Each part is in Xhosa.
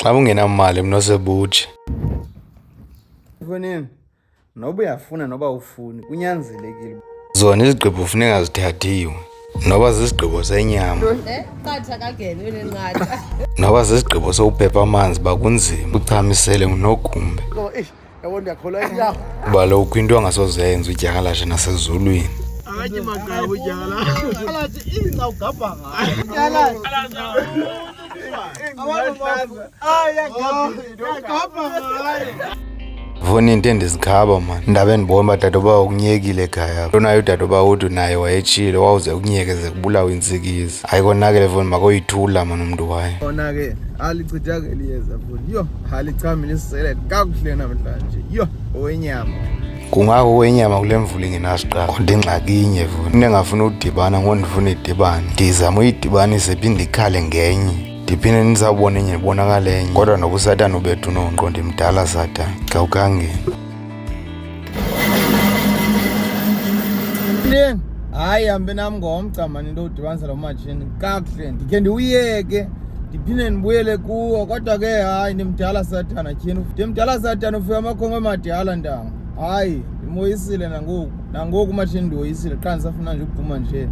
Xa ungenamali mna osebutsha. Mfowethu, noba uyafuna noba ufuni kunyanzelekile. Zona izigqibo kufuneka zithathiwe noba zisigqibo senyama noba zisigqibo sokuphepha amanzi bakunzima uchamisele ngunogumbe yabo ndiyakholwa inyawo kuba lo kho into angasoze yenza udyakalashe nasezulwini akanye magqaba udyakalashe ingca ugabha ngayo vona into endizikhaba mani ndaba endibona uba dade uba ukunyekile ekhaya lonayo udade uba uthi naye wayetshile wawuze kunyekeze kubulawa intsikizi ayikonakele vona makoyithula mani umntu wayo ona ke alichithakeli yeza vona yho Halicamilisele kakuhle namhlanje. Yho, owenyama. Kungako owenyama kule mvula ingenasiqalo. Kodwa ingxaki inye vuna. Into engafuna udibana ngondifuna idibane. Ndizama uyidibanise phinde ikhale ngenye. ndiphinde ndizawubona enye ndibonakale enye kodwa noba usatana ubethu unongqondo imdala satana xa ukangeni Ndini hayi hambe nam ngomgca mani into udibanisa lo matshini kakuhle ndikhe ndiwuyeke ndiphinde ndibuyele kuwo kodwa ke hayi ndimdala sathana tyhini ndimdala sathana ufika amakhongo emadala ntanga hayi ndimoyisile nangoku nangoku umatshini ndiwoyisile qha ndisafuna nje ukuphuma nje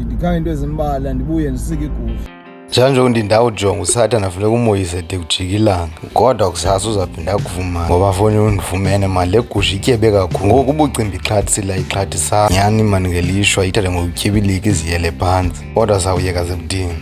ndikhange into ezimbala ndibuye ndisike igusha njenganjengoku ndindawujonga usathana funeka umoyise de kujika ilanga kodwa kusasa uzaphinda akuvumane ngoba foni undifumene mali le gusha ityebe kakhulu ngoku ubucimbi ixhathsila ixhathisa nyhani mani ngelishwa ithathe ngokutyebilika iziyele phantsi kodwa sawuyeka zebudini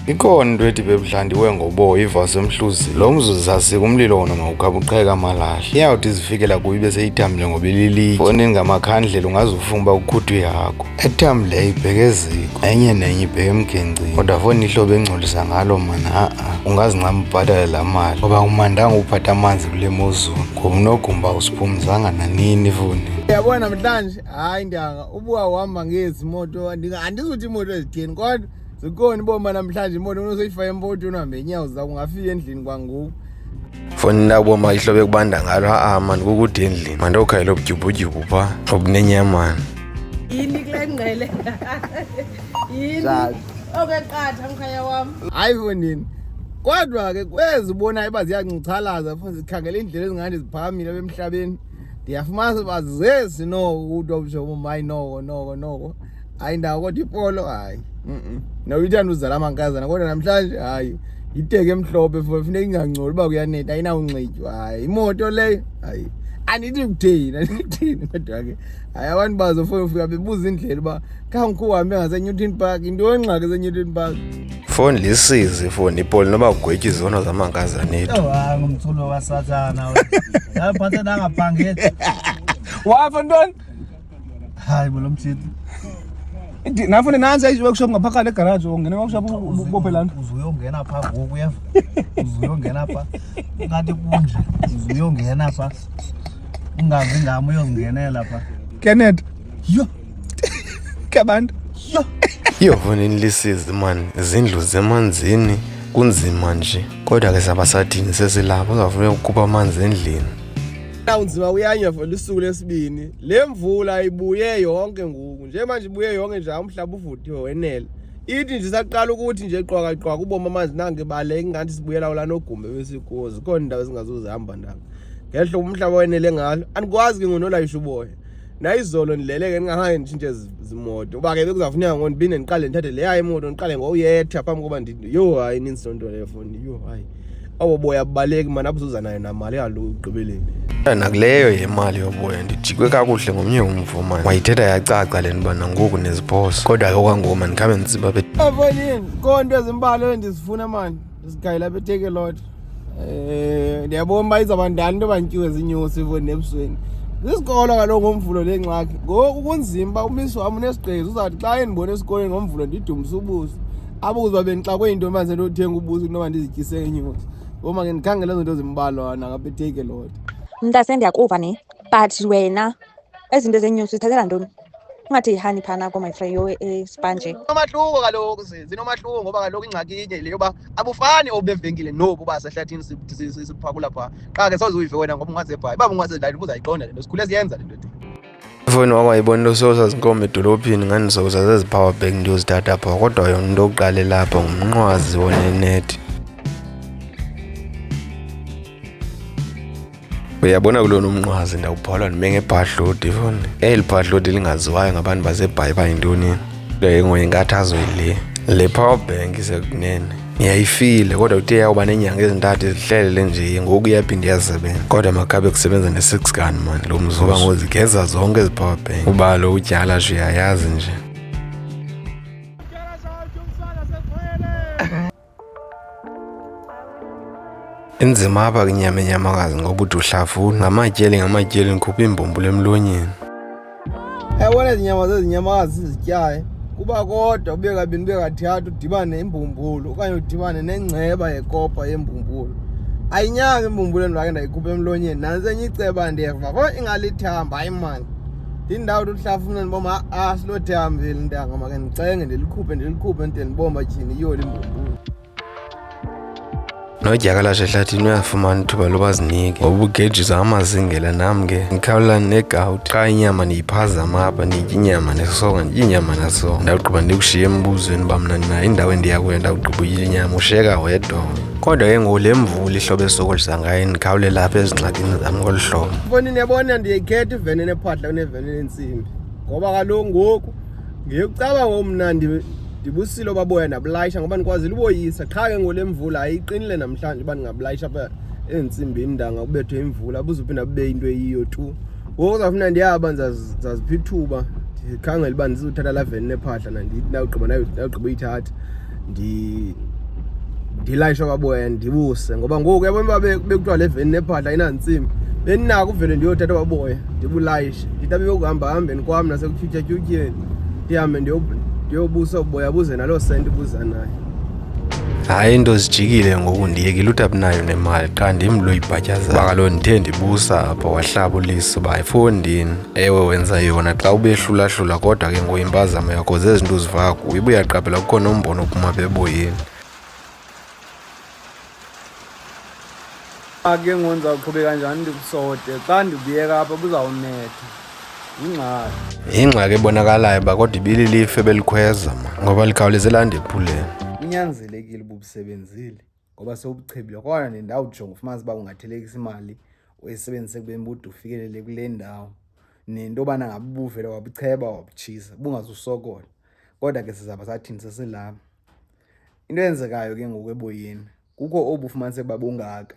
ikhona into ethi bebudlandiwe ngoboya ivasi emhluzi lo mzuzu zasika umlilo wona mawukhabuqheka amalahle iyawuthi izifikela kuyo ibe seyithambile ngoba ililitye foni ngamakhandlela ungaze ufunga uba ukhuthwe yakho ethambileyo eh, ibheke eziko enye nenye ibheke emgencini kodwa foni ihlobo engcolisa ngalo mana aa ungazincama ubhatale laa mali ngoba umandanga uphatha amanzi kule mozulu ngoba unogumba usiphumzanga nanini funi uyabona namhlanje hayi ndanga ubuka uhamba ngezi moto andizuthi imoto ezitheni kodwa zikhona iboma namhlanje imoto unosoyifaka empotweni uhambe inyawo zakho ungafika endlini kwangoku foni labo ma ihlobe kubanda ngalo haa mani kukude endlini mandiokhayela obudyubhudyubhu pha obunenyamani yini kule ngqele yini okeqatha mkhaya wam hayi fondini kodwa ke kwezi ubonayo uba ziyancuthalaza fo zikhangela iindlela ezingandi ziphamile apha emhlabeni ndiyafumanisa uba zezi no uto mshomo mayi noko noko noko hayi ndawo kodwa ipolo hayi nawuyithanda uzala amankazana kodwa namhlanje hayi yiteke emhlophe for funeka ingangcoli uba kuyaneta ayinawunxitywa hayi imoto leyo hayi andithi kutheni andithi kutheni kodwa ke hayi abantu bazo fo ufika bebuza indlela uba khawungikho uhambe ngasenewton park into yongxaki esenewton park foni lisizi foni ipoli noba kugwetya izono zamankazanetu ngumculo wasathana aphathe nangaphangeli wafa ntoni Hayi bo lo mjidi. Ndi- Nafune nansi i-workshop ngapha kale garage ungene i-workshop u- ubophe lana. uzuyongena pha ngoku uyeva uzuyongena pha ungathi kunje uzuyongena pha ungazi ngam uyozingenela pha Kenneth. Yho. Kabantu. Yho. iyovuna inilisizi mani izindlu zemanzini kunzima nje kodwa ke saba sathini sesilapho uzawufuneka ukukhupha amanzi endlini Unzima uyanywa for lusuku lesibini. le mvula ibuye yonke ngoku njemanje ibuye yonke nje umhlaba uvuthiwe wenele ithi nje saqala ukuthi nje qwakaqwaka uboma amanzi nange baleke ingathi sibuyela ula nogumbe besikuwo zikhona indawo ezingazuzihamba ndanga ngehlo umhlaba wenele ngalo andikwazi ke ngonolayisha uboya nayizolo ndileleke ndingahange nditshintshe zimoto uba ke bekuzafuneka ngo ndibinde ndiqale ndithathe leya imoto ndiqale ngoyetha phambi koba yho hayi ninzi loo nto leyo foni yho hayi Abo boya abubaleki mani abuzuza nayo namali kaloku ekugqibeleni. Nakuleyo yemali yoboya ndijikwe kakuhle ngomnye umvo mani. Wayithetha yacaca le nto uba nangoku neziphoso. Kodwa ke okwangoku mani khabe nditsiba be. Afanini konto ezimbalwa endizifuna mani ndizigayela beteke lot. Eh ndiyabona uba izawuba ndani into bantyuwe zinyusi ifoni ebusweni. Isikolo kaloku ngomvulo le ngxaki. Ngoku kunzima uba umisi wam unesigqezi uzawuthi xa endibona esikolweni ngomvulo ndidumise ubuso. apho kuzoba bendixakwe yinto manje nto uthenga ubusi kunoba ndizityise ngenyuzi ngoma ke ndikhangela ezo nto zimbalwana ngabe take a lot mntase ndiyakuva ne but wena ezinto ezenyusi zithathela ntoni ungathi yihani phana ko my friend yo espanje eh, nomahluko kaloku zinomahluko ngoba kaloku ingxaki inye le yoba abufani obevenkile nobu uba sehlathini siphakula phaa qha ke soze uyive wena ngoba ungazebhayi uba ungazedlali ubuzayiqonda le nto sikhule siyenza le nto ifowuni wam ayibona into soza zinkomba edolophini ngandizoza zezi power bank ndiyozithatha apha kodwa yona into okuqalela apha ngumnqwazi wonenethi uyabona kulona umnqwazi ndawubhola ndime ngebhadlodi foni eli bhadlodi lingaziwayo ngabantu basebhayi bayintoni into yengoye inkathazo yile le power bank isekunene yayifile kodwa kuthe yawuba neenyanga ezintathu ezihlelele nje ngoku iyaphinde iyasebenza kodwa makabe kusebenza ne-six gun mani lo mzoba ngozigeza zonke ezi power bank uba lo utyala sho uyayazi nje inzima apha kinyama enyamakazi ngoba uthi uhlafuna ngamatyeli ngamatyeli ndikhupha iimbumbulo emlonyeni Yabona izinyama zezinyamakazi sizityayo kuba kodwa ube kabini ube kathathu udibane nembumbulu okanye udibane nengceba yekopa yembumbulu ayinyanga imbumbulu endibake ndayikhupha emlonyeni nantsi enye iceba ndiyeva ko ingalithamba hayi mani ndindawo tuhlafuna ndiboma a silothe hambile ntanga make ndicenge ndilikhuphe ndilikhuphe ndide ndiboma tyhini iyoli imbumbulu nodyakalashe ehlathini uyafumana ithuba loba zinike ngoba ugejisa amazingela nam ke ndikhawulelani negawuti qha inyama ndiyiphazama apha ndiyitya inyama nesonga nditya inyama nasonga ndawugqiba ndikushiye embuzweni uba mna ndinayo indawo endiya kuyo ndawugqiba uyitya inyama ushiyeka wedwa kodwa ke ngoku le mvula ihlobo esokolisa ngayo ndikhawulela apha ezingxakini zam ngolu hlobo mbonini yabona ndiyikhetha iveni enephadla kuneveni enentsimbi ngoba kaloku ngoku ngekucaba ngoku mna ndibusile obaboya ndabulayisha ngoba ndikwazile uboyisa qha ke ngole mvula ayiqinile namhlanje uba ndingabulayisha apha eentsimbiini ndanga kubethwe imvula buzuphinda bube into eyiyo tu ngoku zafuna ndiyaba ndizazipha ithuba ndikhangela uba ndizothatha la veni nephahla nandawugqiba uyithatha ndilayishe kwaboya ndibuse ngoba ngoku yabona uba bekuthiwa le veni nephadla inantsimi bendinako uvele ndiyothatha kwaboya ndibulayishe nditabe yokuhamba hambeni kwam nasekutyhutyatyutyeni ndihambe ndiyobusa uboya buze naloo senti buza naye hayi into zijikile ngoku ndiyekile uthi abinayo nemali qha ndim lo ibhatyaza uba kaloku ndithe ndibusa apho wahlaba uliso uba efondini ewe wenza yona xa ubehlulahlula kodwa ke ngoku impazamo yakho zezinto uzivayo kuyo ibe uyaqaphela kukho nombono ophuma beboyeni ke ngoku ndizawuqhubeka njani ndikusote xa ndibuyeka apha kuzawunetha yingxaki yingxaki ebonakalayo uba kodwa ibililife belikhweza ma ngoba likhawuleze landephuleni kunyanzelekile uba ubusebenzile ngoba sewubuchebile kwana nendawo ujonga ufumanisa uba ungathelekisa imali uyisebenzise kubeni bude ufikelele kule ndawo nento yobana ngabe ubuvele wabucheba wabutshisa bungazusokola kodwa ke sizaba sathini sesilapha into eyenzekayo ke ngoku eboyeni kukho obu ufumaniseka uba bungaka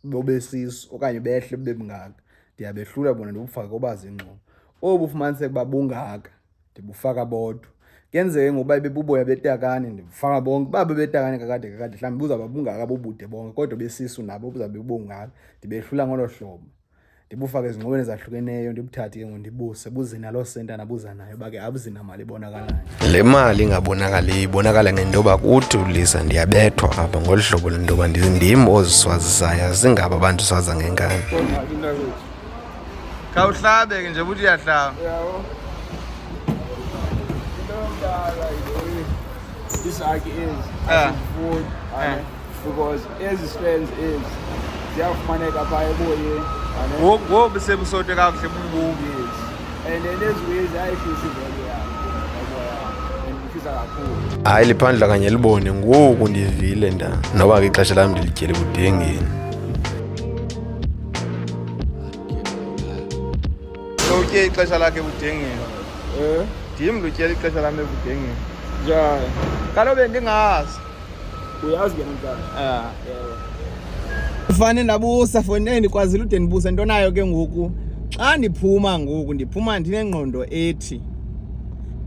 bobesisu okanye behle bube bungaka ndiyabehlula bona ndibufake obazi ingxobo obu ufumaniseka uba bungaka ndibufaka bodwa kuyenzeke ngoba bebuboya betakane ndibufaka bonke uba bebetakane kakade kakade mhlawumbi buzawuba bungaka bobude bonke kodwa besisu nabo buzawube bubungaka ndibehlula ngolo hlobo ndibufake ezingxoweni ezahlukeneyo ndibuthathe ke ngondibuse buze naloo senta nabuza nayo uba ke abuzinamali ibonakalayo le mali ingabonakaliyo ibonakala ngento yoba kuthi ulisa ndiyabethwa apha ngolu hlobo lentoba ndim oziswazisayo zingaba abantu swaza ngenkani khawuhlabeke nje ukuthi uyahlaba isaki ezi ah. ah. because ezi strands ezi ziyafumaneka phaa eboyeni ngoku sebusote kakuhle bumbuki and then ezi wezi ayifisi vele hayi liphandla kanye libone ngoku ndivile nda noba ke ixesha lam ndilityele kudengeni utye ixesha lakhe ebudengeni eh? ndim lutyela ixesha lam ebudengeni njani kalobe ndingazi uyazi ke mntana ah. fane ndabusa fonini ndikwazile ude ndibuse nto nayo ke ngoku xa ndiphuma ngoku ndiphuma ndinengqondo ethi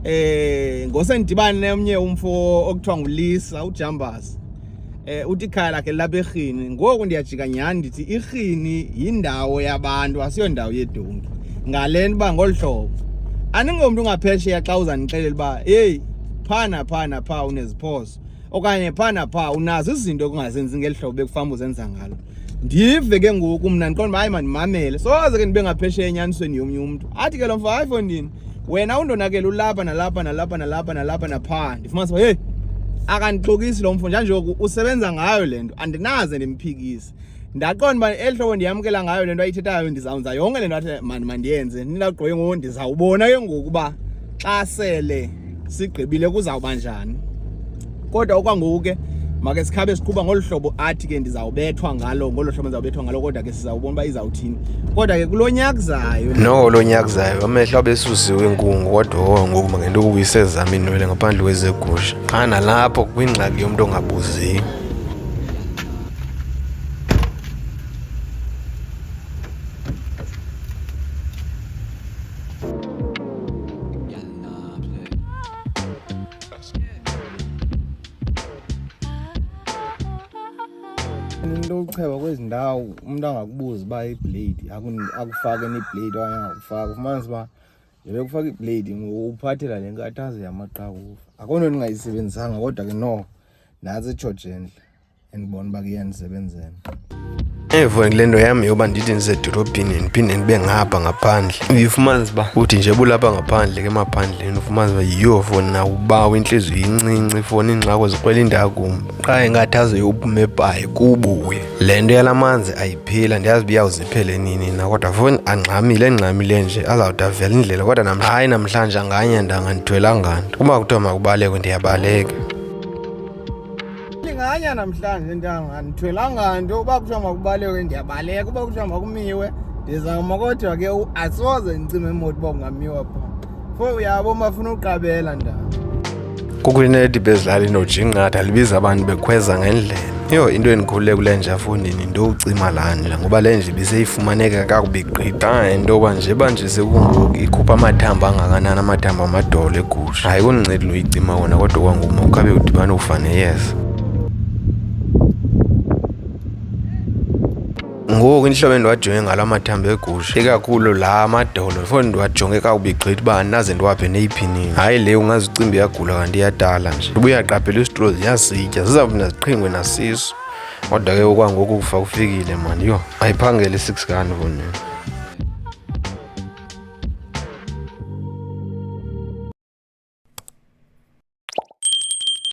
eh ngose ndidibane nomnye umfo okuthiwa ngulisa ujambazi eh uthi ikhaya lakhe lilapha erhini ngoku ndiyajika nyhani ndithi irhini yindawo yabantu asiyo ndawo yedonki ngale nto uba ngolu hlobo andingomntu ungaphesheya xa uzandixelela uba heyi phaa naphaa naphaa uneziphoso okanye phaa naphaa unazo izinto kungazenzi ngeli hlobo bekufamba uzenza ngalo ndive ke ngoku mna ndiqonda uba hayi mandimamele soze ke ndibe ngaphesheya enyanisweni yomnye umntu athi ke lo mfo hayi fondini wena undonakele ulapha nalapha nalapha nalapha nalapha naphaa ndifumanisa uba heyi akandixokisi lo mfo njanjoku usebenza ngayo le nto andinaze ndimphikise ndaqonda uba eli hlobo ndiyamkela ngayo le nto ayithethayo ndizawunza yonke le nto athi mani mandiyenze ndinagqoye ngoku ndizawubona ke ngoku uba xa sele sigqibile kuzawuba njani kodwa okwangoku ke make sikhabe siqhuba ngolu hlobo athi ke ndizawubethwa ngalo ngolo hlobo ndizawubethwa ngalo kodwa ke sizawubona uba izawuthini kodwa ke kulo nyaka zayo no lo nyaka zayo amehlo abesusiwe inkungu kodwa oh, ngoku mangento kubuyise zam iinwele ngaphandle kwezegusha qha nalapho kwingxaki yomntu ongabuziyo into yokucheba kwezi ndawo umntu angakubuza uba iblade akufake neblade okanye angakufaka ufumanisa uba yebe kufaka iblade uphathela le nkathazo yamaqakuva akho nto ndingayisebenzisanga kodwa ke no nantsi itsho jentle andibona uba kuyanisebenzela evo le nto yam yoba ndithi ndisedolophini ndiphinde ndibe ngapha ngaphandle uyifumanisa uba uthi nje bulapha ngaphandle ke emaphandleni ufumanisa uba yiyo foni nakubawo intliziyo incinci ifoni iingxako zikrwela indakumbi qha ingathi aze yophume ebhayi kubuye le nto yala manzi ayiphila ndiyazi uba iyawuziphele nini na kodwa foni angxamile engxamile nje azawude avela indlela kodwa nam hayi namhlanje anganye ndangandithwelanga nto uba kuthiwa makubalekwe ndiyabaleka ndinganya namhlanje ntanga ndithwelanga nto uba kuthiwa makubaleke ndiyabaleka uba kuthiwa makumiwe ndizawuma kodwa ke asoze ndicime imoto uba kungamiwa pha fo uyabo mafuna uqabela ntanga kukwinedi bezidlala inojinqatha libiza abantu bekhweza ngendlela yho into endikhulule kule nje afundini ndowucima laa ndlela ngoba le nje ibiseyifumaneka kakubi gqitha into yoba nje banje sekungoku ikhupha amathambo angakanani amathambo amadolo egusha hayi kundincedi loyicima wona kodwa kwanguma ukhabe udibane ufane yeza ngoku inhlobo endiwajonge ngalo amathambo egusha ikakhulu la amadolo fo ndiwajonge kakubi gqithi uba andinaze ndiwaphe neyiphinini hayi le ungaze ucimbi iyagula kanti iyadala nje uba uyaqaphela isitro ziyasitya zizawuthi naziqhingwe nasiso Kodwa ke okwangoku kufa kufikile mani yho ayiphangele i-six gun vonini